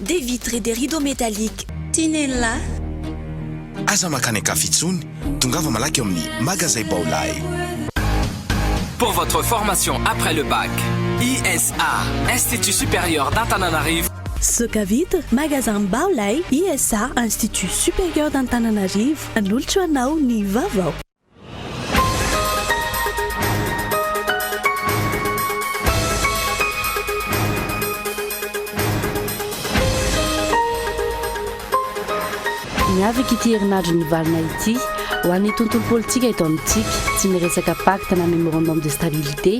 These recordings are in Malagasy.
Des vitres et des rideaux métalliques Tinella. Aza mankany an-kafa intsony, tongava malaky ao amin'ny Magazay Baolai. Pour votre formation après le bac, ISA, Institut Supérieur d'Antananarivo, Zoka vitre, Magasin Baolai, ISA, Institut Supérieur d'Antananarivo, manolotra ho anao ny vaovao. Ny avik' ity herinadro nivalona ity, ho an' ny tontolo politika eto amintsika, tsy miresaka pacte na memorandum de stabilité,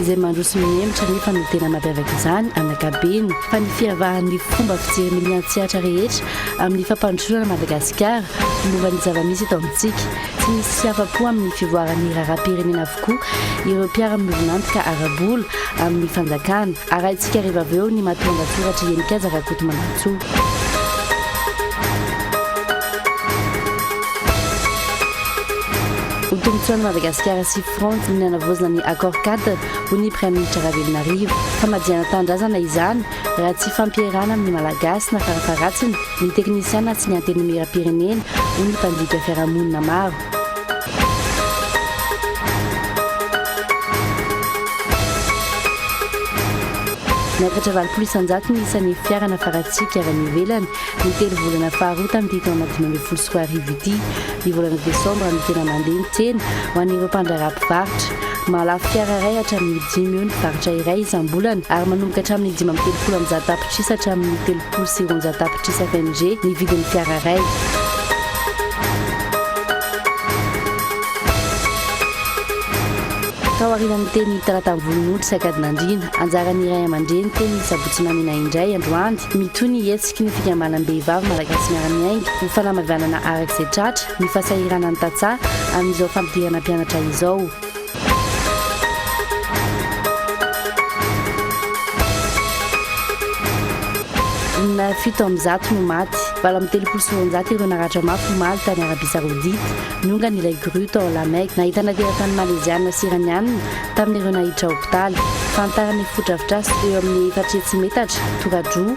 izay mandroso mihemotra nefa no tena mampiavaka izany, an' ankabeny, fa ny fihavahan' ny fomba fijery milian-tsehatra rehetra amin' ny fampandrosoana an' i Madagasikara momba ny zava-misy eto amintsika. Tsy nisy hafa-po amin'ny fivoaran'ny raharaham-pirenena avokoa ireo mpiara-miombon'antoka ara-bola amin'ny fanjakana. Arahintsika hariva avy eo ny matoan-dasoratr'i Henikaja Rakotomandrintsoa. Ho tombontsoan'i Madagasikara sy France ny nanavaozana ny Accord-Cadre, hoy ny Praiminisitra Ravelonarivo. Famadihana tanindrazana izany, Raha tsy hifampierahana amin'ny Malagasy na farafaharatsiny ny teknisiana sy ny Antenimierampirenena, hoy ny mpandika fiarahamonina maro. Niakatra valopolo isan-jato ny isan'ny fiara nafaratsika avy any ivelany ny telo volana faharoa tamin'ity taona dimy ambin'ny folo sy roa arivo ity. Ny volana desambra no tena mandeha ny tsena ho an'ireo mpandraharaha mpivarotra. Mahalafo fiara iray hatramin'ny dimy eo ny faritra iray isam-bolana ary manomboka hatramin'ny dimy amby telopolo amby zato tapitrisa hatramin'ny telopolo sy roanjato tapitrisa FMG ny vidin'ny fiara iray. Taorian'ny teny talatany volonondry sy akadinandriana, anjaran'ny iray aman-dreny teny ny sabotsy mamina indray androany, mitohy ny hetsiky ny fikambanam-behivavy malagasy miara-miainga ho fanamavianana araka izay tratra, ny fasahirana ny tantsaha amin'izao fampidirana mpianatra izao. Olona fito amin'ny zato no maty, valo amin'ny telopolo sy roanjato ireo naratra mafy omaly tany Arabia Saodita, niongana ilay grue tao La Mecque, nahitana teratany Maleziana sy Iraniana tamin'ireo nahiditra hopitaly. Fanitarana efa fodrafitrasa eo amin'ny efatra hetsy metatra, tora-droa,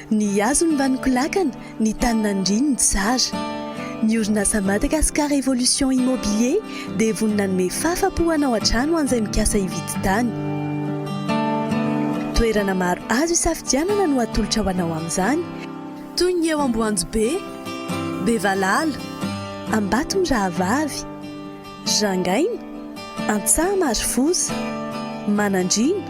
Ny hazony mba nikolakana, ny tany nandriany tsara. Ny orinasa Madagascar Evolution Immobilier dia vonona hanome fahafa-po hanao an-trano ho an'izay mikasa hividy tany. Toerana maro azo isafidianana no atolotra ho anao amin'izany, toy ny eo Amboanjobe, Bevalala, Ambatomirahavavy, Rangaina, Antsaha Marofosa, Manandriana,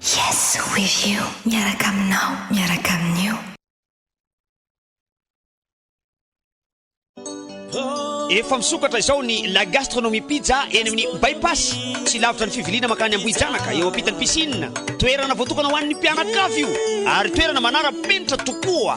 Yes with you miaraka aminao miaraka amin'io. Efa misokatra izao ny La Gastronomie Pizza eny amin'ny Bypass, tsy lavitra ny fiviliana mankany Ambohijanaka, eo ampitan'ny piscine. Toerana voatokana ho an'ny mpianakavy io ary toerana manara-penitra tokoa.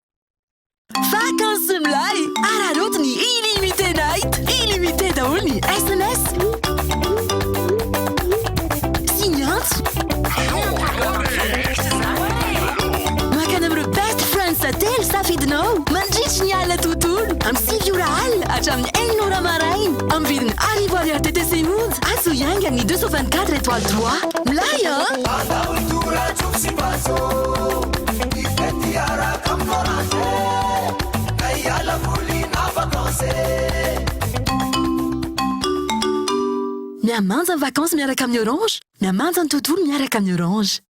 Vakansy milay! Araraoty ny Illimité Night! Illimité daholo ny sms sy ny antso. Makana amin'ireo best friends telo safidinao mandritry ny alina tontolo amin'ny sivy ora alina hatramin'ny enina ora maraina amin'ny vidiny arivo ariary TTC monja atsy ho iaingan'ny 224 étoiles droit. Milay an! Hiaraka am Florence Ka hiala voly na vacances Mihamanja ny vacances miaraka amin'ny Orange Mihamanja ny tontolo miaraka amin'ny Orange.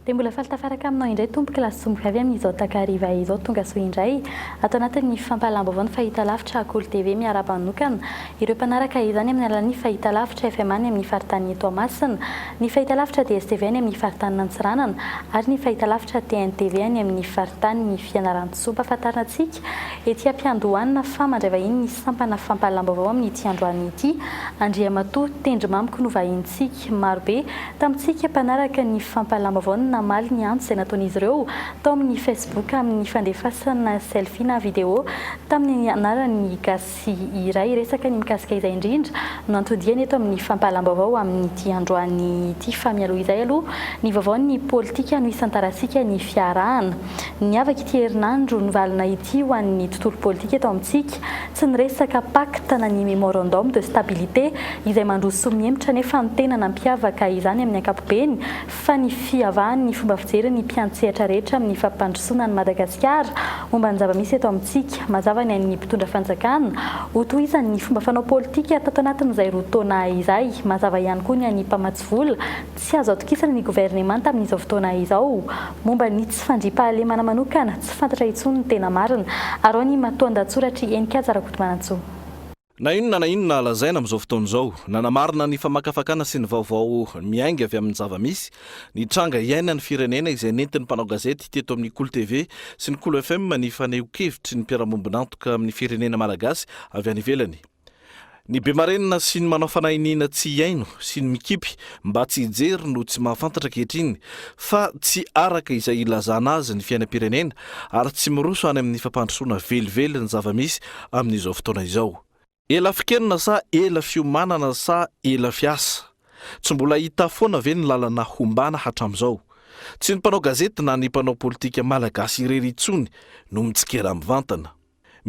Dia mbola faly tafaraka aminao indray tompoko la somboka avy amin izao takariva izao tonga soa indray ato anatin ny fampahalahambaovao ny fahita lavitra Akolo TV miarahaba manokana ireo mpanaraka izany amin ny alalan ny fahita lavitra FMA ny amin ny faritany ny Toamasina ny fahita lavitra DSTV any amin ny faritany Nantsiranana ary ny fahita lavitra TNTV any amin ny faritany ny Fianarantsoa ampahafantarina antsika ety ampiandohanina fa mandray vahiny ny sampana fampahalahambaovao amin ity androany ity Andriamatoa Tendrimamiko no vahinintsika. Katolika marobe tamintsika mpanaraka ny fampahalalam-baovao no namaly ny antso izay nataon'izy ireo tao amin'ny Facebook amin'ny fandefasana selfie na video tamin'ny anaran'ny gasy iray hiresaka ny mikasika izay indrindra no antodiany eto amin'ny fampahalalam-baovao amin'ity androany ity fa mialoha izay aloha ny vaovaon'ny politika no hisantarasika ny fiarahana niavaka ity herinandro nivalona ity ho an'ny tontolo politika eto amintsika Tsy niresaka pacte na ny memorandum de stabilité izay mandroso mihemotra anefa ny tena nampiavaka izany amin'ny ankapobeny fa ny fihavahan'ny fomba fijery ny mpiantsehatra rehetra amin'ny fampandrosoana an'i Madagasikara momba ny zava-misy eto amintsika. Mazava ny ain'ny mpitondra fanjakana ho tohizan'ny fomba fanao politika tato anatin'izay roa taona izay. Mazava ihany koa ny an'ny mpamatsy vola. Tsy azo atokisana ny governemanta amin'izao fotoana izao. Momba ny tsy fandriampahalemana manokana, tsy fantatra intsony ny tena marina, arao ny matoandahatsoratr'i Heninkaja Rakotomanantsoa. Na inona na inona lazaina amin'izao fotoana izao, nanamarina ny famakafakana sy ny vaovao miainga avy amin'ny zava-misy, ny tranga iainan'ny firenena izay nentin'ny mpanao gazety teto amin'ny Kolo TV sy ny Kolo FM ny fanehoan-kevitry ny mpiara-miombon'antoka amin'ny firenena malagasy avy any ivelany. Ny be marenina sy ny manao fanahy iniana tsy hihaino sy ny mikipy mba tsy hijery no tsy mahafantatra ankehitriny fa tsy araka izay ilazana azy ny fiainam-pirenena ary tsy miroso any amin'ny fampandrosoana velively ny zava-misy amin'izao fotoana izao. Ela fikenona sa ela fiomanana sa ela fiasa? Tsy mbola hita foana ve ny lalana hombana hatramin'izao? Tsy ny mpanao gazety na ny mpanao politika malagasy irery intsony no mitsikera mivantana.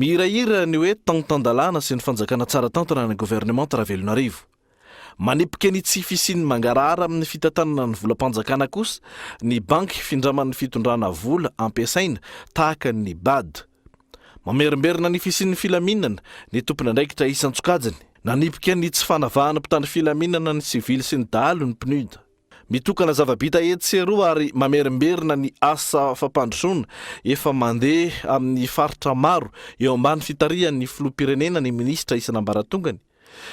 Mihirahira ny hoe Tantan-dalàna sy ny fanjakana tsara tantana ny governemanta Ravelonarivo. Manipika ny tsy fisian'ny mangarahara amin'ny fitantanana ny volam-panjakana kosa ny banky findraman'ny fitondrana vola ampiasaina tahaka ny Bad. Mamerimberina ny fisian'ny filaminana ny tompon'andraikitra isan-tsokajiny. Nanipika ny tsy fanavahana mpitandro filaminana ny sivily sy ny dahalo ny PNUD. Mitokana zava-bita etsy sy eroa ary mamerimberina ny asa fampandrosoana efa mandeha amin'ny faritra maro eo ambany fitarihan'ny Filoham-pirenena ny Minisitra isan'ambaratongany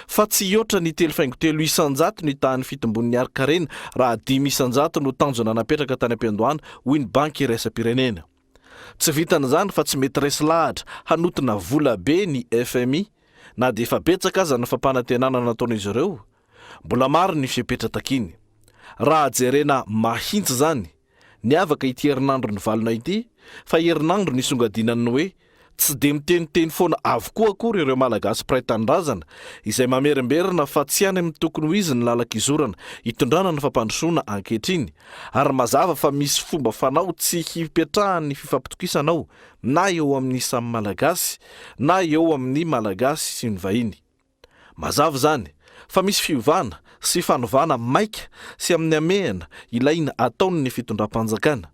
fa tsy hihoatra ny telo faingo telo isan-jato ny tahan'ny fitombon'ny harin-karena raha dimy isan-jato no tanjona napetraka tany am-piandohana, hoy ny Banky iraisam-pirenena. Tsy vitan'izany fa tsy mety resy lahatra hanotina vola be ny fmi na dia efa betsaka aza ny fampanantenana nataon'izy ireo Mbola maro ny fepetra takiany. Raha jerena mahintsy izany, niavaka ity herinandro nivalona ity fa herinandro nisongadinan'ny hoe tsy dia miteniteny foana avokoa akory ireo Malagasy mpiray tanindrazana izay mamerimberina fa tsy any amin'ny tokony ho izy ny lalan-kizorana itondrana ny fampandrosoana ankehitriny ary mazava fa misy fomba fanao tsy hipetrahan'ny fifampitokisana ao na eo amin'ny samy Malagasy na eo amin'ny Malagasy sy ny vahiny. Mazava izany fa misy fiovana sy fanovana maika sy amin'ny hamehana ilaina ataon'ny fitondram-panjakana.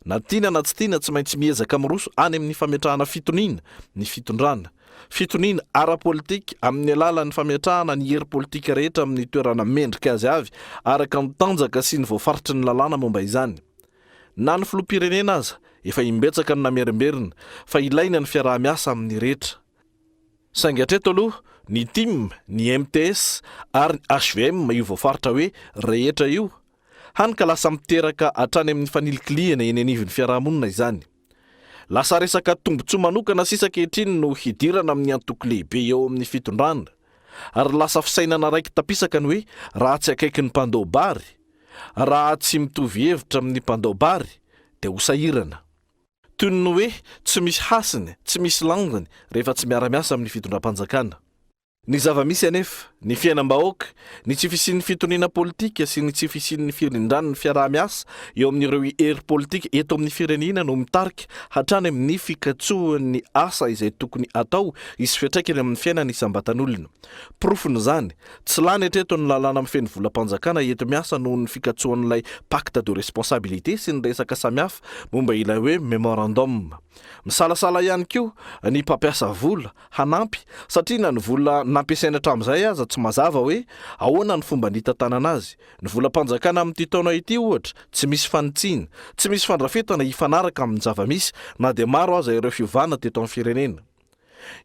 Na tiana na tsy tiana tsy maintsy miezaka miroso any amin'ny fametrahana fitoniana ny fitondrana. Fitoniana ara-politika amin'ny alalan'ny fametrahana ny hery politika rehetra amin'ny toerana mendrika azy avy araka ny tanjaka sy ny voafaritry ny lalàna momba izany. Na ny filoham-pirenena aza efa imbetsaka no namerimberina fa ilaina ny fiaraha-miasa amin'ny rehetra. Saingy hatreto aloha, ny tim, ny mts ary ny hvm io voafaritra hoe rehetra io, hany ka lasa miteraka hatrany amin'ny fanilikilihana eny anivon'ny fiarahamonina izany. Lasa resaka tombontsoa manokana sisa ankehitriny no hidirana amin'ny antoko lehibe eo amin'ny fitondrana, ary lasa fisainana raiki-tapisaka ny hoe raha tsy akaiky ny mpandao bary, raha tsy mitovy hevitra amin'ny mpandao bary, dia ho sahirana. Toy ny hoe tsy misy hasiny, tsy misy lanjany rehefa tsy miara-miasa amin'ny fitondram-panjakana. Ny zava-misy anefa, ny fiainam-bahoaka, ny tsy fisian'ny fitoniana politika sy ny tsy fisian'ny firindran'ny fiaraha-miasa eo amin'ireo hery politika eto amin'ny firenena no mitarika hatrany amin'ny fikatsoan'ny asa izay tokony atao hisy fiantraikany amin'ny fiainana isam-batan'olona. Porofon'izany, tsy lany hatreto ny lalàna mifehy ny volam-panjakana enti-miasa noho ny fikatsoan'ilay Pacte de responsabilité sy ny resaka samihafa momba ilay hoe memorandum. Misalasala ihany koa ny mpampiasa vola hanampy satria na ny vola nampiasainy hatramin'izay aza tsy mazava hoe ahoana ny fomba nitantanana azy. Ny volam-panjakana amin'ity taona ity, ohatra, tsy misy fanitsiana, tsy misy fandrafetana hifanaraka amin'ny zava-misy na dia maro aza ireo fiovana teto amin'ny firenena.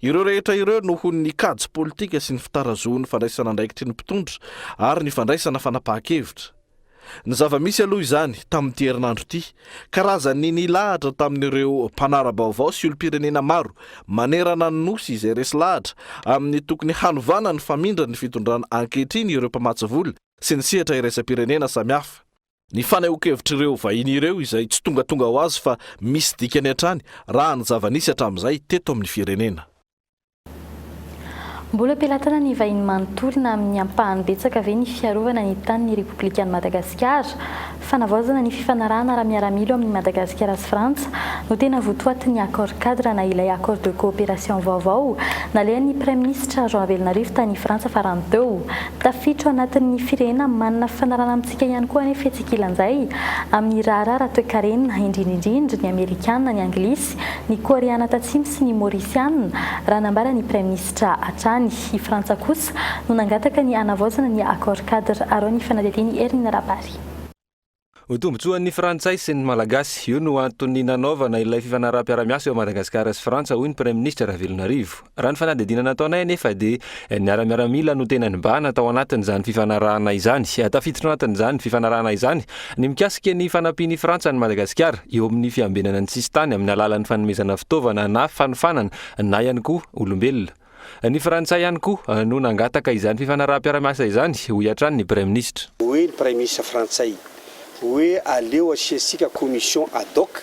Ireo rehetra ireo noho ny kajy politika sy ny fitarazohan'ny fandraisana andraikitry ny mpitondra ary ny fandraisana fanapahan-kevitra. Ny zava-misy aloha izany, tamin'ity herinandro ity, karazan'ny nilahatra tamin'ireo mpanara-baovao sy olom-pirenena maro manerana ny Nosy izay resy lahatra amin'ny tokony hanovana ny famindran'ny fitondrana ankehitriny ireo mpamatsy vola sy ny sehatra iraisam-pirenena samihafa. Ny fanehoankevitr'ireo vahiny ireo izay tsy tongatonga ho azy fa misy dikany hatrany raha ny zava-nisy hatramin'izay teto amin'ny firenena. Mbola am-pelatana ny vahiny manontolo na amin'ny ampahany betsaka ve ny fiarovana ny tanin'ny Repoblikan'i Madagasikara? Fanavaozana ny fifanarahana ara-miaramila eo amin'i Madagasikara sy Frantsa no tena votoatin'ny Accord Cadre na ilay Accord de coopération vaovao nalehan'ny Praiminisitra Rajoelina Rivo tany Frantsa farany teo. Tafiditra ao anatin'ny firenena manana fifanarahana Midika ihany koa anefa etsy ankilan'izay, amin'ny raharaha ara-toekarena, indrindra indrindra ny Amerikana, ny Anglisy, ny Koreana Tatsimo sy ny Maorisiana, raha nambara ny Praiminisitra hatrany. I Frantsa kosa no nangataka ny hanavaozana ny Accord-cadre arao ny fanadihadian'i Hermina Rabary. Ho tombontsoan'ny Frantsay sy ny Malagasy. Io no antony nanaovana ilay fifanaraham-piarahamiasa eo Madagasikara sy Frantsa, hoy ny Praiminisitra Ravelonarivo. Raha ny fanadihadiana nataonay anefa dia niara-miaramila no tena nibahana tao anatin'izany fifanarahana izany. Tafiditra ao anatin'izany fifanarahana izany ny mikasika ny fanampian'i Frantsa an'i Madagasikara eo amin'ny fiambenana ny sisintany amin'ny alalan'ny fanomezana fitaovana na fanofanana na ihany koa olombelona. Ny Frantsay ihany koa no nangataka izany fifanaraham-piara-miasa izany, hoy hatrany ny Praiminisitra. Hoy ny Praiminisitra frantsay hoe aleo asiantsika commission ad hoc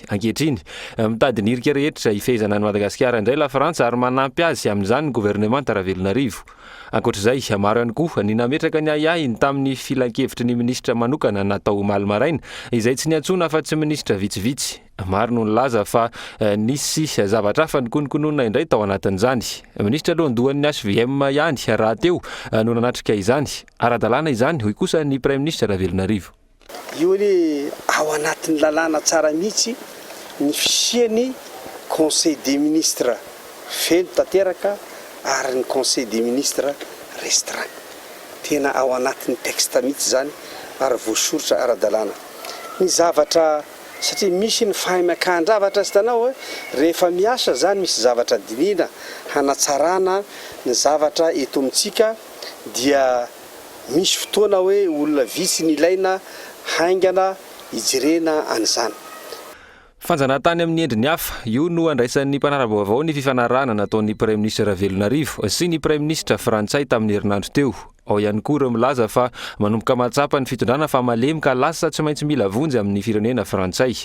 Ankehitriny, mitady ny hirika rehetra hifehezana an'i Madagasikara indray Lafrantsa ary manampy azy amin'izany ny governemanta Ravelonarivo. Ankoatra izay, maro ihany koa ny nametraka ny ahiahiny tamin'ny filankevitry ny minisitra manokana natao omaly maraina, izay tsy niantsoana afa-tsy minisitra vitsivitsy. Maro no nilaza fa nisy zavatra hafa nikononkononina indray tao anatin'izany. Minisitra alohandohan'ny hvm ihany rahateo no nanatrika izany. Ara-dalàna izany, hoy kosa ny praiminisitra Ravelonarivo. Io anie ao anatin'ny lalàna tsara mihitsy ny fisian'ny conseil des ministres feno tanteraka ary ny conseil des ministres restreint. Tena ao anatin'ny texte mihitsy izany ary voasoritra ara-dalàna ny zavatra satria misy ny fahaiman-kahan-javatra hitanao hoe rehefa miasa izany misy zavatra dinihina hanatsarana ny zavatra eto amintsika dia Misy fotoana hoe olona vitsy ny ilaina haingana hijerena an'izany. Fanjanahantany amin'ny endriny hafa, io no andraisan'ny mpanara-baovao ny fifanarahana nataon'ny Praiminisitra Ravelonarivo sy ny Praiminisitra frantsay tamin'ny herinandro teo. Ao ihany koa ireo milaza fa manomboka mahatsapa ny fitondrana fa malemy ka lasa tsy maintsy mila vonjy amin'ny firenena frantsay.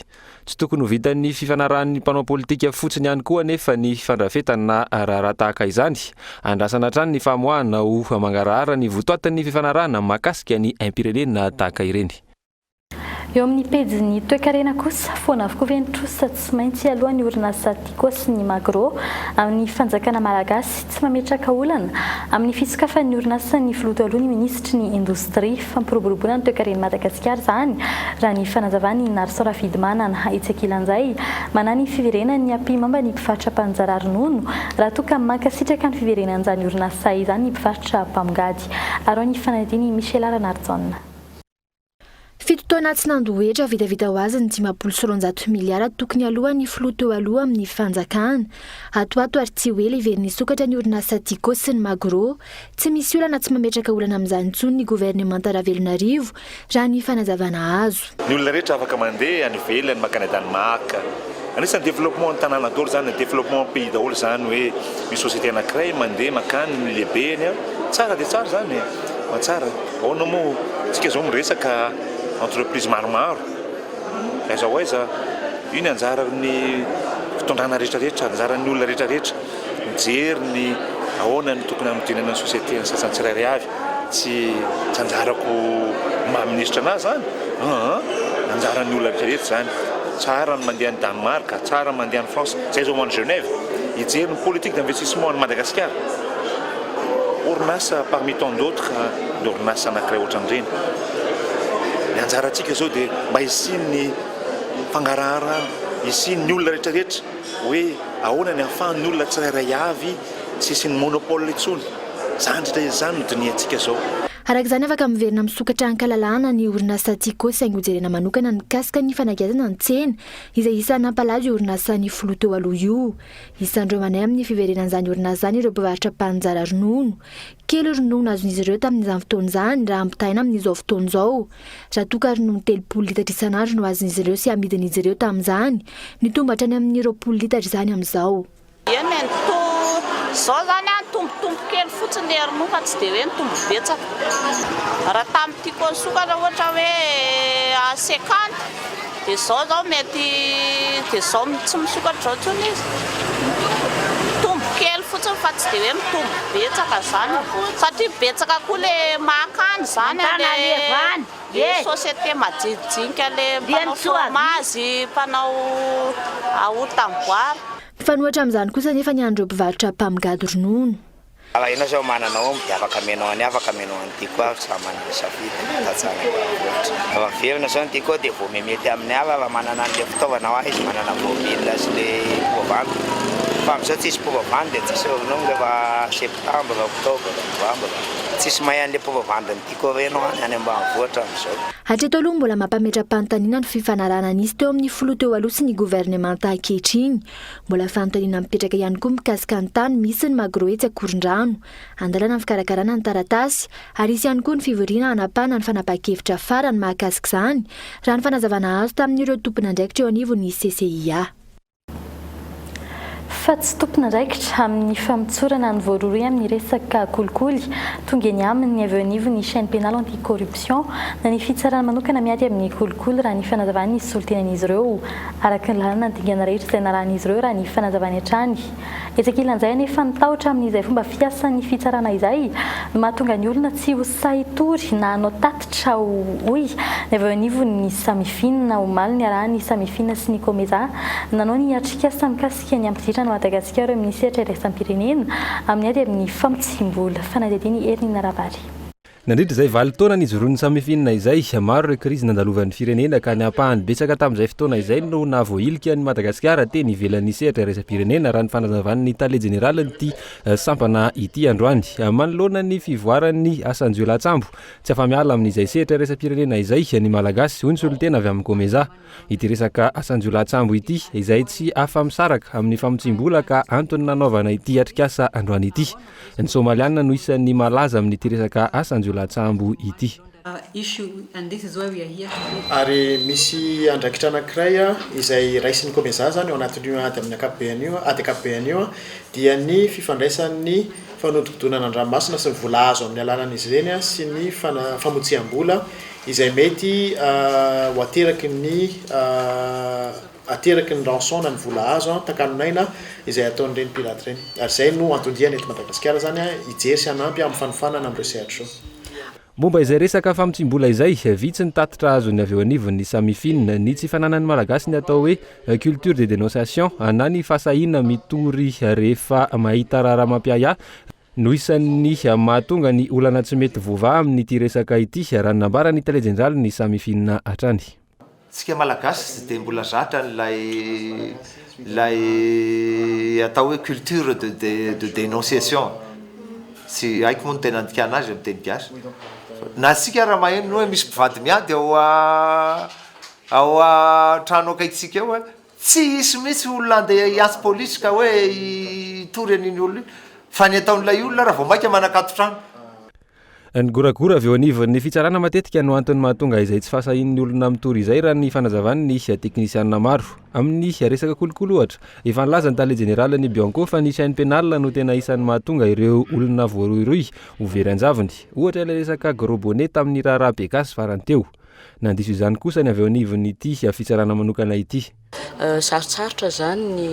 Tsy tokony ho vitan'ny fifanarahan'ny mpanao politika fotsiny ihany koa anefa ny fandrafetana raharaha tahaka izany. Andrasana hatrany ny famoahana ho mangarahara ny votoatin'ny fifanarahana mahakasika ny aim-pirenena tahaka ireny. Eo amin'ny pejin'ny toekarena kosa, foana avokoa ve ny trosa tsy maintsy hialoha ny orinasa? Cosy ny Magro amin'ny fanjakana malagasy tsy mametraka olana amin'ny fisokafan'ny orinasan'ny filoha taloha ny minisitry ny indostria. Fampiroboroboana ny toekaren'i Madagasikara izany raha ny fanazavan'i Narson Rafidimanana etsy ankilan'izay. Manahy ny fiverenan'ny ampihimamba ny mpivarotra mpanzara ronono raha toa ka mankasitraka ny fiverenan'izany orinasa izany ny mpivarotra mpamongady. Arao ny fanadin'i Michela Ranarijaona. Fito taona tsy nandoa hetra vitavita ho azy ny dimampolo sy roanjato miliara tokony alohan'ny filoha teo aloha amin'ny fanjakana. Atoato ary tsy ho ela heverina hisokatra ny orinasa Tiko sy ny Magro. Tsy misy olana tsy mametraka olana amin'izany intsony ny governemanta Ravelonarivo raha ny fanazavana azo. Ny olona rehetra afaka mandeha any ivelany mankany Danemark. Anisan'ny développement ny tanàna daholo izany, développement pays daholo izany hoe misy société anankiray mandeha mankany ny lehibeny. Tsara dia tsara izany e, fa tsara. Ahoana moa tsika zao miresaka entreprise maromaro aiza ho aiza io ny anjaran'ny fitondrana retraretra anjaran'ny olona retraretra mijery ny ahoana ny tokony hanodinana ny société ny sasany tsirairay avy tsy tsy anjarako maha ministra anah zany aa anjaran'ny olona retraretra zany tsara ny mandeha any Danemark tsara ny mandeha any France zay zao any Genève hijery ny politique d'investissement any Madagasikara Orinasa parmi tant d'autres ny orinasa anankiray ohatran'ireny. Ny anjarantsika izao dia mba hisian'ny fangaraharana, hisian'ny olona rehetrarehetra hoe ahoana ny ahafahan'ny olona tsirairay avy tsy hisian'ny monopole intsony. Izany indrindra izany no dinihantsika izao. Araka izany, afaka miverina misokatra an-kalalahana ny orinasa Tiko saingy hojerena manokana ny mikasika ny fanakianana ny tsena izay isan'ny nampalaza io orinasa ny filoha teo aloha io. Isan'ireo manahy amin'ny fiverenan'izany orinasa izany ireo mpivarotra mpaninjara ronono. Kely ronono azon'izy ireo tamin'izany fotoana izany raha ampitahaina amin'izao fotoana izao. Raha toa ka ronono telopolo litatra isan'andro no azon'izy ireo sy amidin'izy ireo tamin'izany, nitombo hatrany amin'ny roapolo litatra izany amin'izao. Eny e, ny to izao izany nitombotombo kely fotsiny ilay ronono fa tsy dia hoe nitombo betsaka. Raha tamin'ity koa nisokatra ohatra hoe à cinquante. Dia zao zao mety dia zao tsy misokatra zao tsony izy mitombo kely fotsiny fa tsy dia hoe mitombo betsaka zany satria betsaka koa le mahakany zany an le société majinijinika le mpanao fromazy mpanao yaourt amboara. Mifanohitra amin'izany kosa anefa ny an'ireo mpivarotra mpamgady ronono. Raha enao zao manana omby dia afaka amenao an'i afaka amenao an'i Tiko ary tsy raha manana safidy tantsaha-na ambanivohitra. Raha averina zao ny Tiko dia vao mihamety amin'ny ala raha manana an'ilay fitaovana hoa izy manana bobine sy le porobandy fa amizao tsisy porobandy dia tsisy ronono rehefa septambra, oktobra, novambra. Tsisy mahay an'ilay porobandy ny Tiko reny hoa any ambanivohitra amizao. Hatreto aloha mbola mampametra-panontaniana ny fifanarahana nisy teo amin'ny filoha teo aloha sy ny governemanta ankehitriny. Mbola fanontaniana mipetraka ihany koa mikasika ny tany misy ny Magro etsy Ankorondrano. Andalana ny fikarakarana ny taratasy ary hisy ihany koa ny fivoriana hanapahana ny fanapahan-kevitra farany mahakasika izany, raha ny fanazavana azo tamin'ireo tompon'andraikitra eo anivon'ny CCIA. Fa tsy tompon'andraikitra amin'ny famotsorana ny voarohirohy amin'ny resaka kolikoly, tonga eny aminy ny avy eo anivon'ny Chaine Pénale Anti-Corruption na ny fitsarana manokana miady amin'ny kolikoly, raha ny fanazavan'ny solontenan'izy ireo. araka ny lalàna ny dingana rehetra izay narahan'izy ireo raha ny fanazavany hatrany. Etsy ankilan'izay anefa, ny tahotra amin'izay fomba fiasan'ny fitsarana izay no mahatonga ny olona tsy ho sahy hitory na hanao tatitra, hoy ny avy eo anivon'ny Samifina, omaly niarahan'ny Samifina sy ny Comesa nanao ny atrikasa mikasika ny hampiditra an'i Madagasikara eo amin'ny sehatra iraisam-pirenena amin'ny ady amin'ny famotsiam-bola. Fanadihadian'i Herninie Rabary. Nandritra izay valo taona nijoroan'ny Samifin-na izay, maro ireo krizy nandalovan'ny firenena ka ny ampahany betsaka tamin'izay fotoana izay no nahavoahilika an'i Madagasikara teny ivelan'ny sehatra iraisam-pirenena, raha ny fanazavan'ny Tale Jeneralin'ity sampana ity androany. Manoloana ny fivoaran'ny asan-jiolahy an-tsambo, tsy afa-miala amin'izay sehatra iraisam-pirenena izay ny Malagasy, hoy ny solontena avy amin'ny Comesa. Ity resaka asan-jiolahy-tsambo ity izay tsy afa-misaraka amin'ny famotsiam-bola ka antony nanaovana ity atrikasa androany ity. Ny Somaliana no isan'ny malaza amin'ity resaka asan-jiolahy-tsambo ity. Ary misy andraikitra anankiray izay raisin'ny Comesaza izany ao anatin'io ady amin'ny ankapobeny io, ady ankapobeny io, dia ny fifandraisan'ny fanodinkodinana an-dranomasina sy ny vola azo amin'ny alalan'izy ireny sy ny famotsiam-bola izay mety ho ateraky ny ateraky ny rançon na ny vola azo an, takano n'aina izay ataon'ireny pirate ireny. Ary izay no anton-diany eto Madagasikara izany an, hijery sy hanampy amin'ny fanofanana amin'ireo sehatry ireo. Momba izay resaka famotsiam-bola izay, vitsy ny tatitra azon'ny avy eo anivon'ny Samifin, ny tsy fananan'ny Malagasy ny atao hoe culture de dénonciation na ny fahasahiana mitory rehefa mahita raharaha mampiahiahy, no isan'ny mahatonga ny olana tsy mety voavaha amin'ity resaka ity, raha ny nambaran'ny tale jeneralin'ny Samifinina hatrany. Tsika malagasy tsy dia mbola zatra an'ilay ilay atao hoe culture de de de denonciation tsy haiko moa ny tena andikana azy amin'ny teny gasy na tsika ara maheno ny hoe misy mpivady miady ao ao an-trano akaikintsika ao a. Tsy hisy mihitsy olona handeha hiatsy polisy ka hoe hitory an'iny olona iny fa ny ataon'ilay olona ary vao mainka manakato trano. Ny goragora avy eo anivon'ny fitsarana matetika no antony mahatonga izay tsy fahasahian'ny olona mitory izay raha ny fanazavan'ny teknisiana maro. Amin'ny resaka kolikoly ohatra, efa nilaza ny tale jeneralin'ny Bianco fa ny chaine pénale no tena isan'ny mahatonga ireo olona voarohirohy ho very an-javony. Ohatra ilay resaka gros bonnet tamin'ny raharaha be gasy farany teo. Nandiso izany kosa ny avy eo anivon'ity fitsarana manokana ity. Sarotsarotra izany ny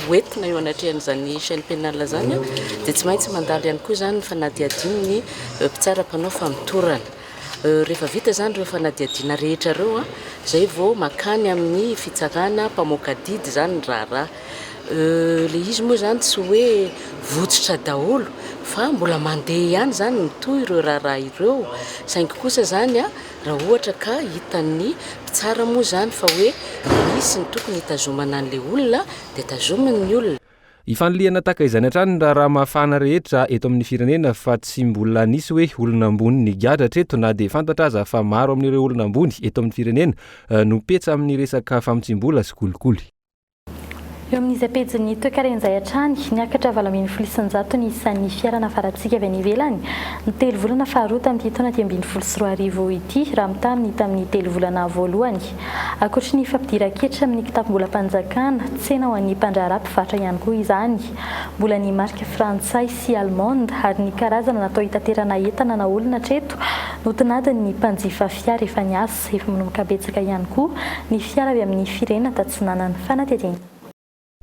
ho entina eo anatrehan'izany chaîne pénale izany dia tsy maintsy mandalo ihany koa izany ny fanadihadian'ny mpitsara mpanao famotorana. Rehefa vita izany ireo fanadihadiana rehetra ireo izay vao makany amin'ny fitsarana mpamoaka adidy izany ny raharaha. Euh, le izy moa izany tsy hoe votsotra daholo fa mbola mandeha ihany izany mitohy ireo raharaha ireo, saingy kosa izany a, raha ohatra ka hitan'ny mpitsara moa izany fa hoe misy ny tokony hitazomana an'ilay olona dia tazominy ny olona. Ifanilihana tahaka izany hatrany ny raharaha mafana rehetra eto amin'ny firenena fa tsy mbola nisy hoe olona ambony nigadra hatreto na dia fantatra aza fa maro amin'ireo olona ambony eto amin'ny firenena no petsa amin'ny resaka famotsiam-bola sy kolikoly. Eo amin'izay pejin'ny toekaren' izay hatrany, niakatra valo ambin'ny folo isanjato ny isan'ny fiara nafarantsika avy any ivelany ny telo volana faharoa tamin'ity taona dimy ambin'ny folo sy roa arivo ity raha mitaha amin'ny tamin'ny telo volana voalohany. Ankoatry ny fampidiran-ketra amin'ny kitapom-bolam-panjakana, tsena ho an'ny mpandraharaha mpivarotra ihany koa izany. Mbola ny marika frantsay sy allemande ary ny karazana natao hitaterana entana na olona hatreto no tinadin'ny mpanjifa fiara efa niasa. Zero manomboka betsaka ihany koa ny fiara avy amin'ny firenena tatsonanan'ny fanaterena.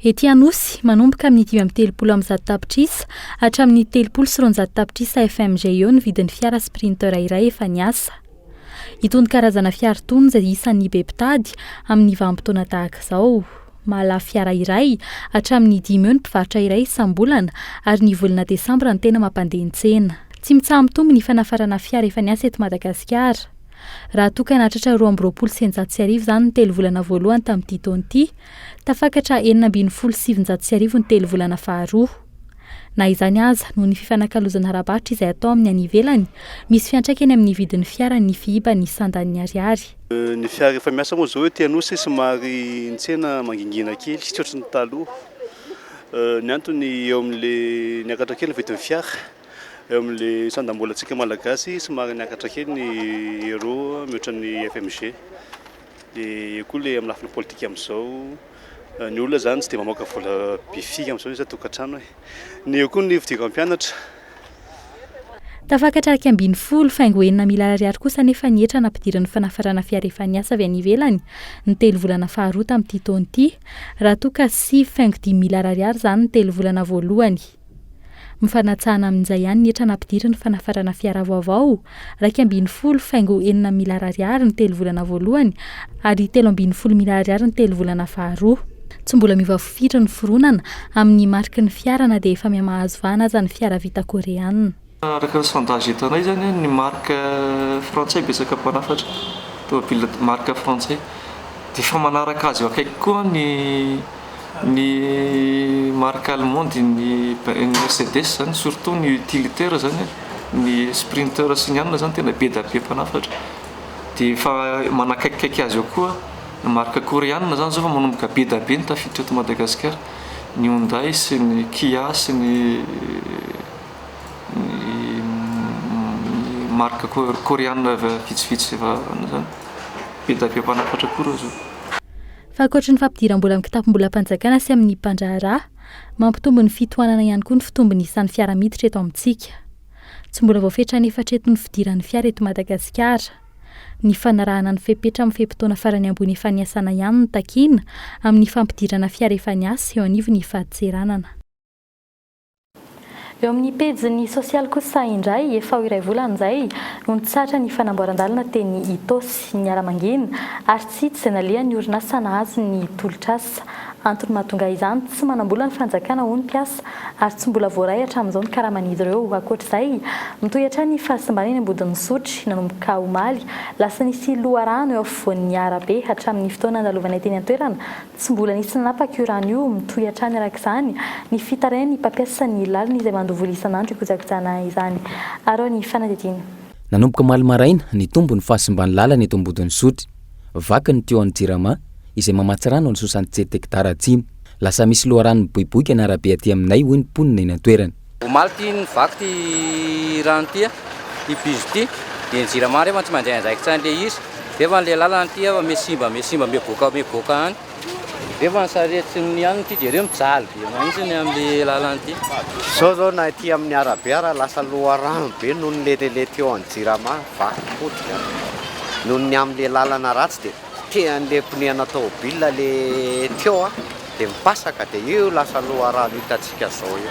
Ety Anosy, manomboka amin'ny dimy amby telopolo amby zato tapitrisa hatramin'ny telopolo sy roanjato tapitrisa FMJ eo ny vidin'ny fiara Sprinter iray efa niasa. Itony karazana fiara itony izay isan'ny be mpitady amin'ny vanim-potoana tahaka izao. Mahalafo fiara iray hatramin'ny dimy eo ny mpivarotra iray isam-bolana ary ny volana desambra no tena mampandeha ny tsena. Tsy mitsaha-mitombo ny fanafarana fiara efa niasa eto Madagasikara. Raha toa ka nahatratra roa amby roapolo sy eninjato sy arivo izany ny telo volana voalohany tamin'ity taona ity, tafakatra enina ambin'ny folo sy sivinjato sy arivo ny telo volana faharoa. Na izany aza, noho ny fifanakalozana ara-barotra izay atao amin'ny any ivelany, misy fiantraikany amin'ny vidin'ny fiara ny fihiban'ny sandan'ny ariary. Ny fiara efa miasa moa izao ety Anosy somary ny tsena mangingina kely, tsy ohatry ny taloha. Ny antony eo amin'ilay niakatra kely ny vidin'ny fiara. eo amin'ilay sandam-bolantsika malagasy somary niakatra kely ny euro mihoatra ny FMG. Dia eo koa ilay amin'ny lafiny politika amin'izao, ny olona izany tsy dia mamoaka vola be firy amin'izao isan tokantrano e. Ny eo koa ny fidiran'ny mpianatra. Tafakatra iraika ambin'ny folo, faingo enina miliara ariary kosa anefa ny hetra nampidirin'ny fanafarana fiara efa niasa avy any ivelany ny telo volana faharoa tamin'ity taona ity, raha toa ka sivy faingo dimy miliara ariary izany ny telo volana voalohany. Mifanatsahana amin'izay ihany ny hetra nampidiriny fanafarana fiara vaovao, iraika ambin'ny folo faingo enina miliara ariary ny telo volana voalohany ary telo ambin'ny folo miliara ariary ny telo volana faharoa. Tsy mbola miova fofiry ny fironana amin'ny mariky ny fiara na dia efa miha-mahazo vahana aza ny fiara vita Koreana. Araka ny sondage entanay izany, ny marika frantsay betsaka mpanafatra tômôbila marika frantsay. Dia efa manaraka azy eo akaiky koa ny ny marika allemande, ny mercedes izany, surtout ny utilitaire izany, ny sprinter sy ny anona izany tena be dia be mpanafatra. Dia efa manakaikikaiky azy eo koa ny marika koreanina izany izao vao manomboka be dia be ny tafiditra eto Madagasikara, ny Hyundai sy ny Kia sy ny. marque coreana efa vitsivitsy efa zany. Be dia be mpanafatra koa ireo zao. Fa ankoatry ny fampidiram-bola amin'ny kitapom-bolam-panjakana sy amin'ny mpandraharaha, mampitombo ny fitohanana ihany koa ny fitombon'ny isan'ny fiara miditra eto amintsika. Tsy mbola voafetra an'efatra eto ny fidiran'ny fiara eto Madagasikara. Ny fanarahana ny fepetra amin'ny fe-potoana farany ambony efa niasana ihany no takiana amin'ny fampidirana fiara efa niasa eo anivon'ny fadintseranana. Eo amin'ny pejiny sosialy kosa indray, efa ho iray volana izay no nitsahatra ny fanamboaran-dalana teny Itaosy, ny miaramangina, ary tsy hita izay nalehan'ny orinasa nahazo ny tolotr'asa. Antony mahatonga izany, tsy manam-bola ny fanjakana hoy ny mpiasa, ary tsy mbola voaray hatramin'izao ny karaman'izy ireo. Ankoatr'izay, mitohy hatrany ny fahasimbanana eny Ambodin'Isotry, nanomboka omaly lasa nisy loharano eo afovoan'ny arabe hatramin'ny fotoana nandalovanay teny an-toerana, Tsy mbola nisy nanapaka io rano io, mitohy hatrany araka izany ny fitarain'ny mpampiasa ny lalana izay mandoa vola isan'andro hikojakojana izany. Araho ny fanadihadiana. Nanomboka omaly maraina, nitombo ny fahasimban'ny lalana eto Ambodin'Isotry. Vaky ny tuyau-n'ny Jirama, izay mamatsy rano an'i Sosantsy Tsety Hekitara Atsimo. Lasa misy loharano miboiboika ny arabe aty aminay, hoy ny mponina eny an-toerana. Omaly ity nivaky ity rano ity ity bijoux ity dia ny jirama rehefa tsy mandray andraikitra an'ilay izy rehefa ilay lalana ity efa mihasimba mihasimba mihaboaka mihaboaka any rehefa ny sarety ny anona ity dia ireo mijaly be mahitsy ny amin'ilay lalana ity. Izao izao na ity amin'ny arabe ara lasa loharano be noho ny leteletra eo amin'ny jirama vaky potika noho ny amin'ilay lalana ratsy dia. Tsy te handeha ponihana tôbila le Tio a! Dia mipasaka dia io lasa loharano hitantsika zao io.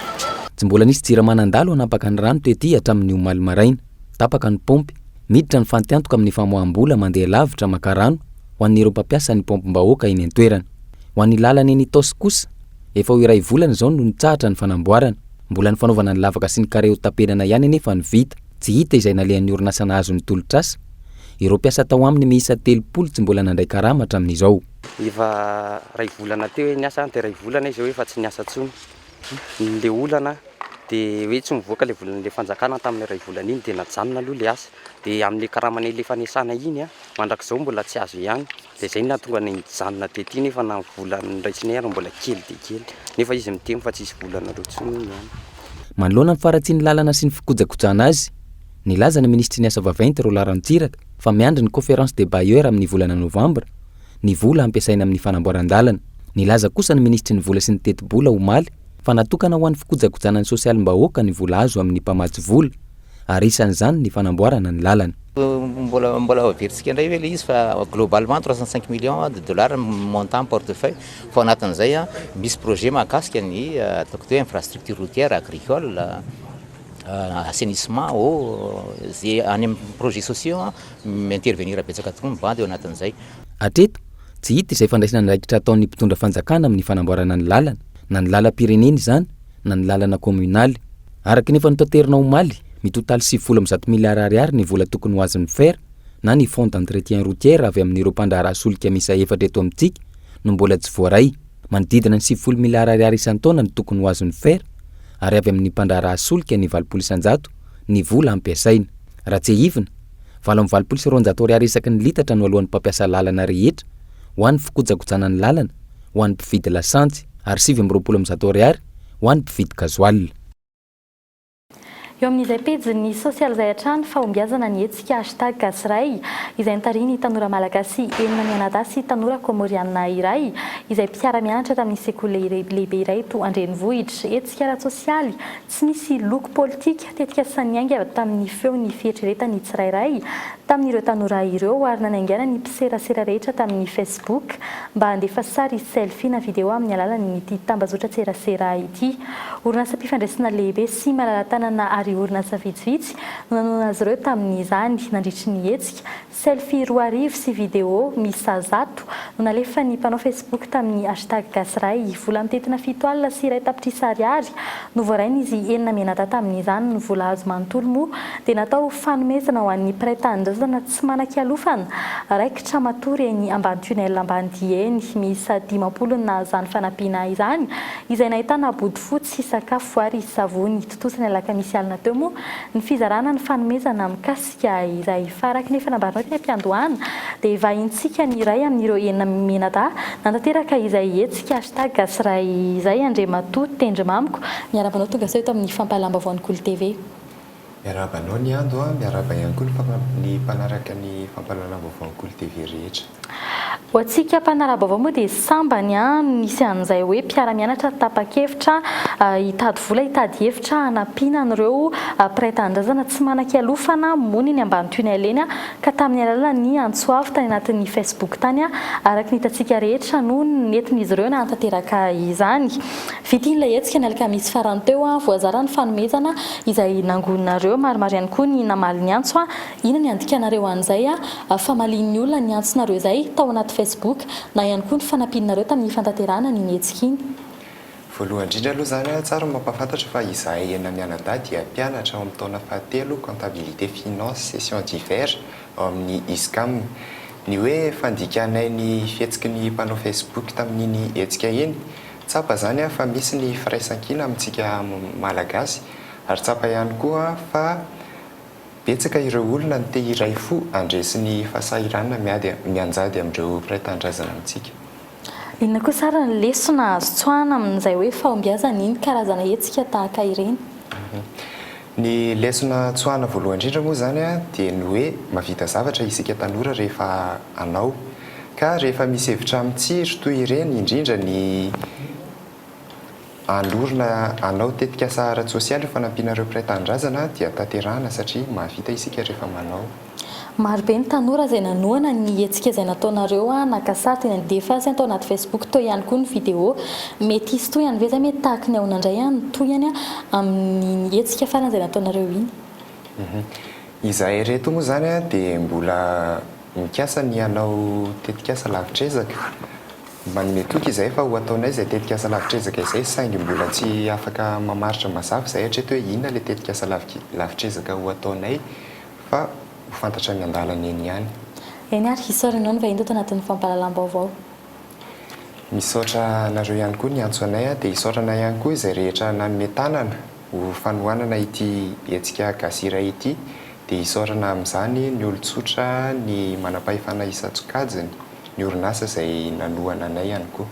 Tsy mbola nisy jirama nandalo hanapaka ny rano tety hatramin'ny omaly maraina. Tapaka ny paompy. Miditra ny fantiantoka amin'ny famoaham-bola mandeha lavitra maka rano ho an'ireo mpampiasa ny paompim-bahoaka eny an-toerana. Ho an'ny lalana eny Itaosy kosa, efa ho iray volana izao no nitsahatra ny fanamboarana. Mbola ny fanaovana ny lavaka sy ny kare hotapenana ihany anefa no vita. Tsy hita izay nalehan'ny orinasa nahazo ny tolotr'asa. Ireo mpiasa tao aminy miisa telopolo tsy mbola nandray karama hatramin'izao. Efa iray volana teo hoe niasa dia iray volana izy eo efa tsy niasa intsony. Ilay olana dia hoe tsy nivoaka ilay volan'ilay fanjakana tamin'iny iray volana iny dia najanona aloha ilay asa. Dia amin'ilay karama nalefa niasana iny mandrakizao mbola tsy azo ihany. Dia izay no nahatonga anay nijanona tety nefa na ny vola noraisiny aza mbola kely dia kely. Nefa izy miteny fa tsisy vola anareo intsony hono any. Manoloana ny faharatsian'ny lalana sy ny fikojakojana azy, nilaza ny minisitry ny Asa vaventy, Rolland Ranintsiraka, fa miandry ny Conférence des bailleurs amin'ny volana novambra, ny vola hampiasaina amin'ny fanamboaran-dalana. Nilaza kosa ny minisitry ny Vola sy ny teti-bola, omaly, fa natokana ho an'ny fikojakojana ny sosialim-bahoaka ny vola azo amin'ny mpamatsy vola. ary isan'izany ny fanamboarana ny lalana. Mbola mbola averintsika indray ve ilay izy fa globalement trois cent cinq millions de dollars ny montant portefeuille fa ao anatin'izay misy projet mahakasika ny ataoko hoe infrastructure routière, agricole, assainissement, eau, izay any amin'ny projets sociaux mi-intervenir betsaka tokoa ny bandy ao anatin'izay. Hatreto, tsy hita izay fandraisana andraikitra ataon'ny mpitondra fanjakana amin'ny fanamboarana ny lalana, na ny lalam-pirenena izany, na ny lalana kominaly. Araka ny efa notaterina omaly, mitotaly sivifolo amby zato miliara ariary ny vola tokony ho azin'ny fer na ny fonds d'entretien routier avy amin'ireo mpandraharaha solika miisa efatra eto amintsika no mbola tsy voaray. Manodidina ny sivifolo miliara ariary isan-taona no tokony ho azon'ny fer ary avy amin'ny mpandraharaha solika ny valopolo isan-jato ny vola ampiasaina. Raha tsiahivina, valo amby valopolo sy roanjato ariary isaky ny litatra no aloan'ny mpampiasa lalana rehetra ho an'ny fikojakojana ny lalana ho an'ny mpividy lasantsy ary sivy amby roapolo amby zato ariary ho an'ny mpividy gazoala. Eo amin'izay pejin'ny sosialy izay hatrany fahombiazana ny hetsika hashtag Gasiray izay notarihin'ny tanora malagasy enina mianadahy sy tanora kômôrianina iray izay mpiara-mianatra tamin'ny sekoly lehibe iray eto an-drenivohitra. Hetsika ara-tsosialy Tsy nisy loko politika, tetika sa niainga tamin'ny feo ny fieritreretan'ny tsirairay tamin'ireo tanora ireo ary nanaingaina ny mpiserasera rehetra tamin'ny Facebook mba handefa sary selfie na video amin'ny alalan'ity tambazotran-tserasera ity. Orinasam-pifandraisana lehibe sy malala-tanana ary orinasa vitsivitsy no nanonona azy ireo tamin'izany nandritry ny hetsika Selfie roa arivo sy video miisa zato no nalefan'ny mpanao Facebook tamin'ny hashtag Gasyiray. Vola mitentina fito alina sy iray tapitrisa ariary no voarain'izy enina mianadahy tamin'izany. Ny vola azo manontolo moa dia natao ho fanomezana ho an'ny mpiray tanindrazana tsy manan-kialofana raikitra matory eny ambany tunnel Ambanidia eny. Miisa dimampolo ny nahazo izany fanampiana izany, izay nahitana bodofotsy, sakafo ary savony. Tontosa ny alakamisy alina teo moa ny fizarana ny fanomezana mikasika. Ka ilay faraky ny efa nambarinao teny am-piandohana dia vahintsika ny iray amin'ireo enina mianadahy nanateraka ilay hetsika hashtag Gasiray izay Andriamatoa Tendry Mamiko, miarahaba anao tongasoa eto amin'ny Fampahalalam-baovaon'ny Kolo TV. Miarahaba anao Niando a, miarahaba ihany koa ny mpanaraka ny Fampahalalam-baovaon'ny Kolo TV rehetra. Ho antsika mpanara-baovao moa dia sambany no nisy an'izay hoe mpiara-mianatra tapa-kevitra hitady vola hitady hevitra hanampiana an'ireo mpiray tanindrazana tsy manan-kialofana mony eny Ambanotoinay eny ka tamin'ny alalan'ny antso avo tany anatin'ny Facebook tany araka ny hitantsika rehetra no nentin'izy ireo nahatanteraka izany. Vita iny ilay hetsika ny alakamisy farany teo, voazara ny fanomezana izay nangoninareo, maromaro ihany koa ny namaly ny antso. Inona ny andikanareo an'izay ah? Famalian'ny olona ny antsonareo izay tao anaty Facebook na ihany koa ny fanampianareo tamin'ny fantanterahana an'iny hetsika iny. Voalohany indrindra aloha izany ah, tsara ny mampahafantatra fa izahay enina mianadahy dia mpianatra ao amin'ny taona fahatelo Comptabilité, Finance, Session d'hiver ao amin'ny Iscam. Ny hoe fandikanay ny fihetsiky ny mpanao Facebook tamin'iny hetsika iny, tsapa izany ah fa misy ny firaisankina amintsika Malagasy ary tsapa ihany koa fa, Betsaka ireo olona no te hiray fo handresy ny fahasahiranana miady mianjady amin'ireo mpiray tanindrazana amintsika. Inona kosa ary ny lesona azo tsoahana amin'izay hoe fahombiazana iny karazana hetsika tahaka ireny? Ny lesona tsoahana voalohany indrindra moa izany dia ny hoe mahavita zavatra isika tanora rehefa hanao. Ka rehefa misy hevitra mitsiry toy ireny, indrindra ny. Alorina hanao tetikasa ara-tsosialy io fanampiana ireo mpiray tanindrazana dia tanterahana satria mahavita isika rehefa manao. Maro be ny tanora izay nanohana ny hetsika izay nataonareo a naka sary dia nandefa azy tao anaty facebook teo ihany koa ny video mety hisy tohiny ve izay mety tahaka ny ahoana indray a ny tohiny amin'iny hetsika farany izay nataonareo iny. Izahay ireto moa izany dia mbola mikasa ny hanao tetikasa lavitr'ezaka Manome toky izahay fa ho ataonay izay tetikasa lavitr'ezaka izay saingy mbola tsy afaka mamaritra mazava izahay hatreto hoe inona ilay tetikasa lavitr'ezaka ho ataonay fa ho fantatra any an-dalana eny ihany. Eny ary, hisaora anao ny vahiny teto anatin'ny fampahalalam-baovao. Misaotra anareo ihany koa niantso anay dia hisaotra anay ihany koa izay rehetra nanome tanana. Ho fanohanana ity hetsika Gasy Iray ity dia hisaorana amin'izany ny olon-tsotra, ny manam-pahefana isan-tsokajiny, ny orinasa izay nanohana anay ihany koa.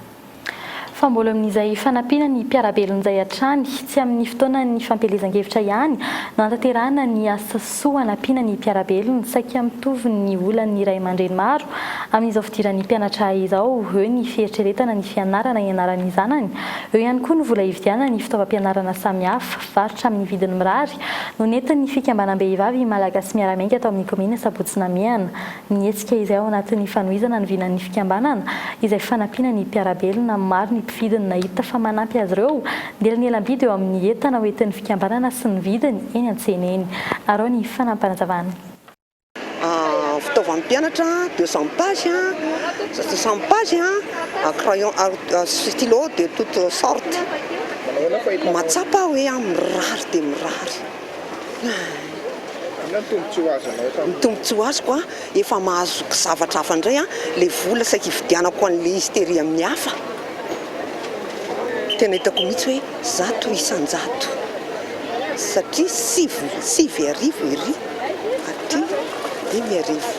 Fa mbola amin'izay fanampiana ny mpiara-belona izay hatrany, tsy amin'ny fotoanan'ny fampielezan-kevitra ihany no hanatanterahana ny asa. soa hanampiana ny mpiara-belona saika mitovy ny olan'ny ray aman-dreny maro amin'izao fidiran'ny mpianatra izao, eo ny fieritreretana ny fianarana hianaran'ny zanany, eo ihany koa ny vola hividianana ny fitaovam-pianarana samihafa. Varotra amin'ny vidiny mirary no nentin'ny fikambanam-behivavy Malagasy Miara-miainga tao amin'ny kaominina Sabotsy Namehana ny hetsika izay ao anatin'ny fanohizana ny vinan'ny fikambanana izay fanampiana ny mpiara-belona. Maro ny mpividy no nahita fa manampy azy ireo ny elanelam-bidy eo amin'ny entana ho entin'ny fikambanana sy ny vidiny eny an-tsena eny. Araho ny fanampanazavan'ny. Fitaovan'ny mpianatra, de cent page, cent page, crayon sy stylo de toute sorte. Mahatsapa aho hoe mirary dia mirary. Inona ny tombontsoa azonao tamin'io? Ny tombontsoa azoko an, efa mahazo zavatra hafa indray an, ilay vola saika hividianako an'ilay izy tery amin'ny hafa, tena hitako mihitsy hoe zato isan-jato satria sivy, sivy arivo ery aty dimy arivo.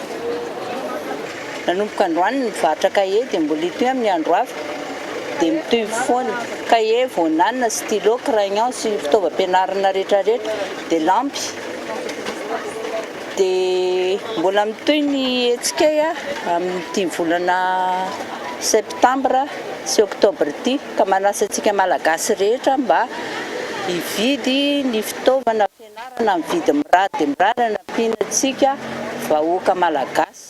Nanomboka androany ny varotra kahie dia mbola hitohy amin'ny andro hafa dia mitohy foana. Kahie, vonana, stylo, crayon sy ny fitaovam-pianarana retraretra dia lampy. Dia mbola mitohy ny hetsikay amin'ity volana septambra sy oktobra ity ka manasa antsika malagasy rehetra mba hividy ny fitaovana fianarana amin'ny vidiny mirary dia mirary anampiana antsika vahoaka malagasy.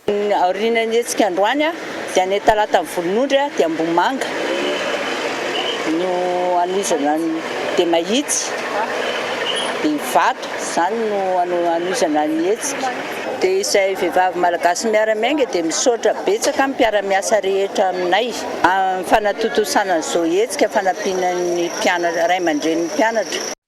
Ny aorian'ny hetsika androany dia ny talata volonondry dia Ambohimanga no hanohizana an'i dia Mahitsy dia Ivato izany no hanohizana ny hetsika. Dia izay vehivavy malagasy miara miainga dia misaotra betsaka ny mpiara miasa rehetra aminay amin'ny fanatontosana izao hetsika fanampiana ny mpianatra ray aman-drenin'ny mpianatra.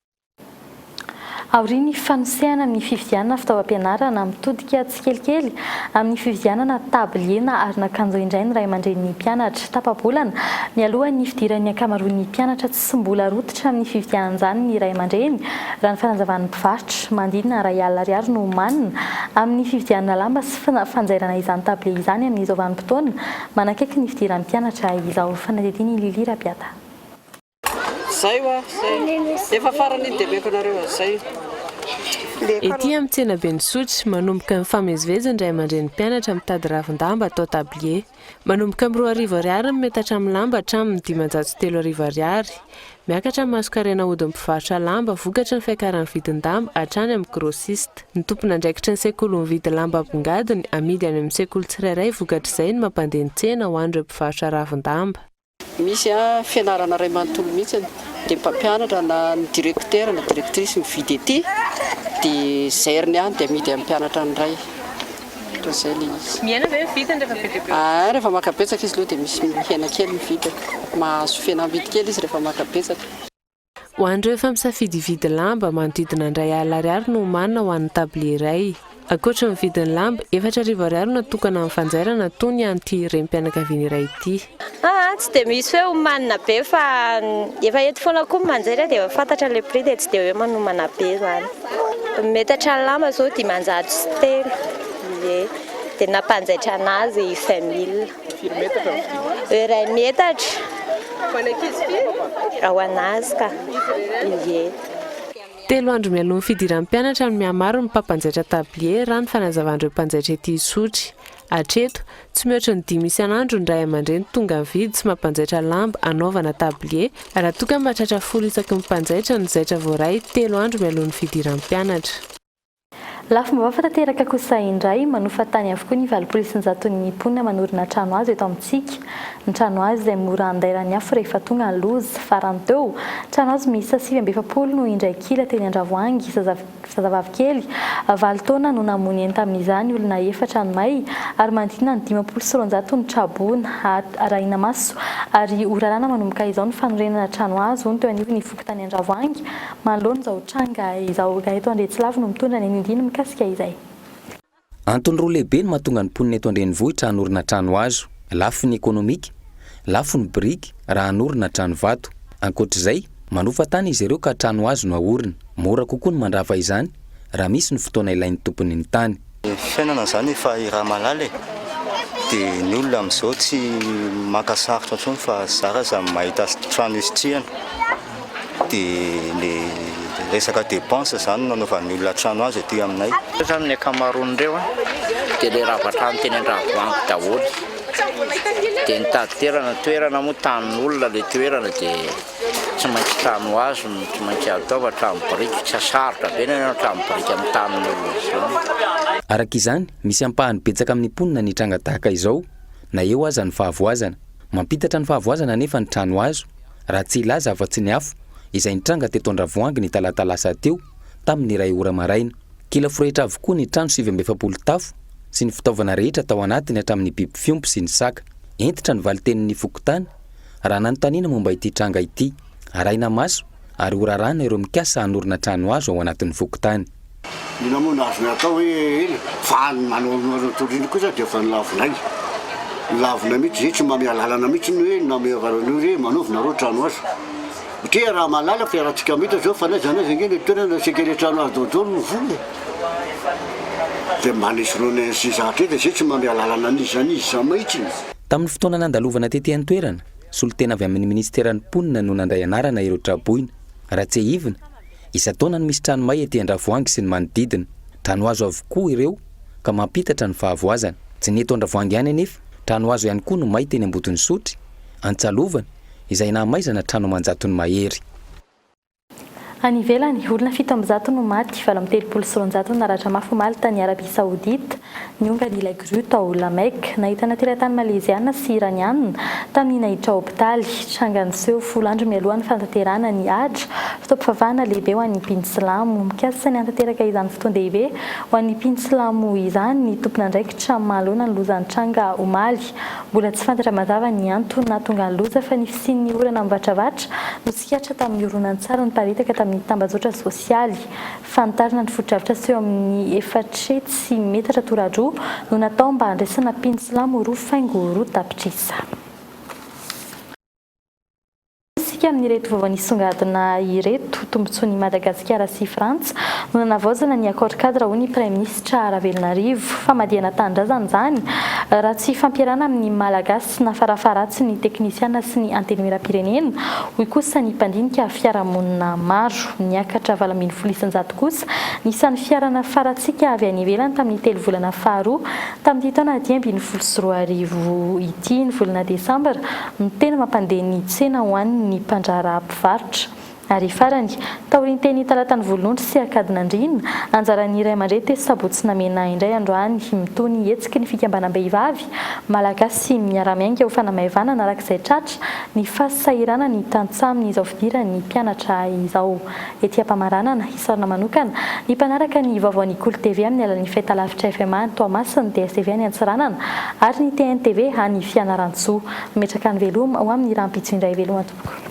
Aorian'ny fanosehana ny fividianana fitaovam-pianarana mitodika tsikelikely amin'ny fividianana tabilier na aron'akanjo indray ny ray aman-drenin'ny mpianatra. Tapa-bolana mialoha ny fidiran'ny ankamaroan'ny mpianatra tsy mbola rototra amin'ny fividianan'izany ny ray aman-dreny, raha ny fanazavan'ny mpivarotra. Manodidina iray alina ariary no omanina amin'ny fividianana lamba sy fanjairana izany tabilier izany amin'izao vanim-potoana manakaiky ny fidiran'ny mpianatra izao. Fanadihadian'i Lily Rapiata. Zay wa, zay. Efa farany iny debeko anareo a, zay. Ety amin'ny tsenaben'i Sotry, manomboka mifamezivezy ny ray aman-dreny mpianatra mitady ravin-damba atao tablier. Manomboka amin'ny roa arivo ariary ny metatra amin'ny lamba hatramin'ny dimanjato sy telo arivo ariary. Miakatra ny masonkarena ahodin'ny mpivarotra lamba vokatry ny fiakaran'ny vidin-damba hatrany amin'ny grossiste. Ny tompon'andraikitry ny sekoly mividy lamba ambongadiny amidy any amin'ny sekoly tsirairay vokatr'izay ny mampandeha ny tsena ho an'ireo mpivarotra ravin-damba. Misy fianarana iray manontolo mihitsy dia ny mpampianatra na ny directeur na directrice mividy ety dia zairiny ihany dia amidy amin'ny mpianatra ny iray. Ohatran'izay ilay izy. Miaina ve ny vidiny rehefa be dia be? Ah, rehefa maka betsaka izy aloha dia misy mihena kely ny vidiny. Mahazo fihenam-bidy kely izy rehefa maka betsaka. Ho an'ireo efa misafidy hividy lamba, manodidina indray alina ariary no omanina ho an'ny tablier iray. Ankoatry ny vidin'ny lamba, efatra arivo ariary no natokana amin'ny fanjairana, toa ny an'ity renim-pianakaviana iray ity. Aa, tsy dia misy hoe omanina be fa efa eto foana koa ny manjery dia efa fantatra ilay prix dia tsy dia hoe manomana be izany. Metatra lamba izao dimanjato sy telo, ie, dia ny nampanjaitra an'azy vingt mille. Firy metatra ny vy? Iray metatra. Ho an'ny ankizy firy? Ho an'azy ka. Ie. Telo andro mialoha ny fidiran'ny mpianatra no mihamaro ny mpampanjaitra tablier, raha ny fanazavan'ireo mpanjaitra ety Isotry. Hatreto, tsy mihoatra ny dimy isan'andro ny ray aman-dreny tonga mividy sy mampanjaitra lamba hanaovana tablier, raha toa ka mba tratra folo isaky ny mpanjaitra ny zaitra voaray telo andro mialoha ny fidiran'ny mpianatra. Lafim-baovao tanteraka kosa indray, manofa tany avokoa ny valopolo isanjaton'ny mponina manorina trano hazo eto amintsika. Ny trano hazo izay mora handairan'ny afo rehefa tonga ny loza. Farany teo, trano hazo miisa sivy amby efapolo no indray kila teny Andravoahangy. Zazavavy kely valo taona no namono eny tamin'izany, olona efatra no may ary manodidina ny dimampolo sy roanjato no traboina. Arahina maso ary ho raràna manomboka izao ny fanorenana trano hazo, hono teo anivon'ny fokontany Andravoahangy. Manoloana izao tranga izao, ireto Andriantsilavo no mitondra ny anindiny mikasika izay. Antony roa lehibe no mahatonga ny mponina eto an-drenivohitra hanorina trano hazo, lafiny ekonomika, lafiny biriky raha hanorina trano vato. Ankoatra izay, manofa tany izy ireo ka trano hazo no ahorina. Mora kokoa ny mandrava izany raha misy ny fotoana ilain'ny tompony ny tany. Ny fiainana zany efa iramalala e! de ny olona amzao tsy maka sarotra tsony fa zara za mahita trano hisitrihana de le resaka depense zany no anaovan'ny olona trano azy aty aminay. Reo zany ny akamaroany reo a de le ravatrano teny andravoangy daholo de nitady toerana, toerana moa tanin'olona le toerana de. Tsy maintsy trano hazo no tsy maintsy atao fa trano biriky tsy sarotra be ny hanao trano biriky amin'ny tanin'olona izao. Araka izany, misy ampahany betsaka amin'ny mponina ny tranga tahaka izao, na eo aza ny fahavoazana. Mampitatra ny fahavoazana anefa ny trano hazo, raha tsy hilaza afa-tsy ny afo, izay nitranga teto Andravoahangy ny talata lasa teo, tamin'ny iray ora maraina. Kila forehitra avokoa ny trano sivy amby efapolo tafo sy ny fitaovana rehetra tao anatiny hatramin'ny biby fiompy sy ny saka. Hentitra ny valin-tenin'ny fokontany. Raha nanontaniana momba ity tranga ity, arahina maso ary horaràna ireo mikasa hanorina trano hazo ao anatin'ny fokontany. Inona moa no azonay atao hoe ela fa ny manao anao ireo tory ireo kosa dia efa nilavinay. Nilavinay mihitsy izay tsy mba miha lalana mihitsy ny hoe nameava anao an'io re manaova nareo trano hazo. Otria raha mahalala fa iarahantsika mita izao fa n'aiza n'aiza ange ny toerana asiaka ilay trano hazo daholo no vola e. Dia mba anesoronay an'izay zavatra izay tsy mba miha lalana an'iza an'iza mihitsy. Tamin'ny fotoana nandalovana tety an-toerana, solontena avy amin'ny minisiteran'ny Mponina no nandray anarana ireo tra-boina. Raha tsiahivina, isan-taona no misy trano may ety Andravoahangy sy ny manodidina. Trano hazo avokoa ireo ka mampitatra ny fahavoazana. Tsy ny eto Andravoahangy ihany anefa, trano hazo ihany koa no may teny Ambotonisotry, Antsalovana, izay nahamaizana trano aman-jatony mahery. Any ivelany, olona fito amby zato no maty, valo amby telopolo sy roanjato no naratra mafy omaly tany Arabia Saodita, niongany ilay grue tao La Mecque, nahitana teratany Maleziana sy Iraniana, tamin'ny naiditra hopitaly. Tranga niseho folo andro mialoha ny fanatanterahana ny Hajj, fotoam-pivavahana lehibe ho an'ny mpino silamo. Mikasa ny hanatanteraka izany fotoan-dehibe ho an'ny mpino silamo izany ny tompon'andraikitra manoloana ny loza nitranga omaly. Mbola tsy fantatra mazava ny antony nahatonga ny loza fa ny fisian'ny orana mivatravatra no Tsikaritra tamin'ny horonantsary niparitaka tamin'ny tambajotra sosialy. Fanitarana ny fotodrafitra seho amin'ny efatre tsy metatra tora-droa no natao mba handraisana mpino silamo roa faingo roa tapitrisa. Hoy isika amin'ireto vaovao nisongadina ireto, Tombontsoan'i Madagasikara sy Frantsa no nanavaozana ny Accord Cadre hoy ny Praiminisitra Ravelonarivo. Famadihana tanindrazana izany raha tsy hifampierana amin'ny Malagasy. Tsy nafarafaharatsy ny teknisiana sy ny antenimieram-pirenena, hoy kosa ny mpandinika fiarahamonina maro. Niakatra valo ambin'ny folo isan-jato kosa ny isan'ny fiara nafaratsika avy any ivelany tamin'ny telo volana faharoa tamin'ity taona dimy ambin'ny folo sy roa arivo ity. Ny volana desambra no tena mampandeha ny tsena ho an'ny mpandraharaha mpivarotra. Ary farany, taorian'ny teny Talatany Volonondry sy Ankadinandriana, anjaran'ny ray aman-dreny tetsy Sabotsy namena ahy indray androany mitohy ny hetsiky ny fikambanam-behivavy Malagasy miara-miainga ho fanamaivanana arak'izay tratra ny fasahiranan'ny tantsaha amin'izao fidiran'ny mpianatra izao ety Ampamaranana, isaorana manokana ny mpanaraka ny vaovaon'ny Kolo TV amin'ny alalan'ny fahitalavitra FMA any Toamasina, DSTV any Antsiranana ary ny TNTV any Fianarantsoa. Mametraka ny veloma ho amin'ny rahampitso indray veloma tompoko.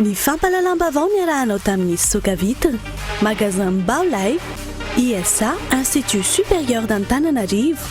Ny fampahalalam-baovao niarahanao tamin'ny Soka Vitre, Magasin Mbao Lay, ISA, Institut Supérieur d'Antananarivo.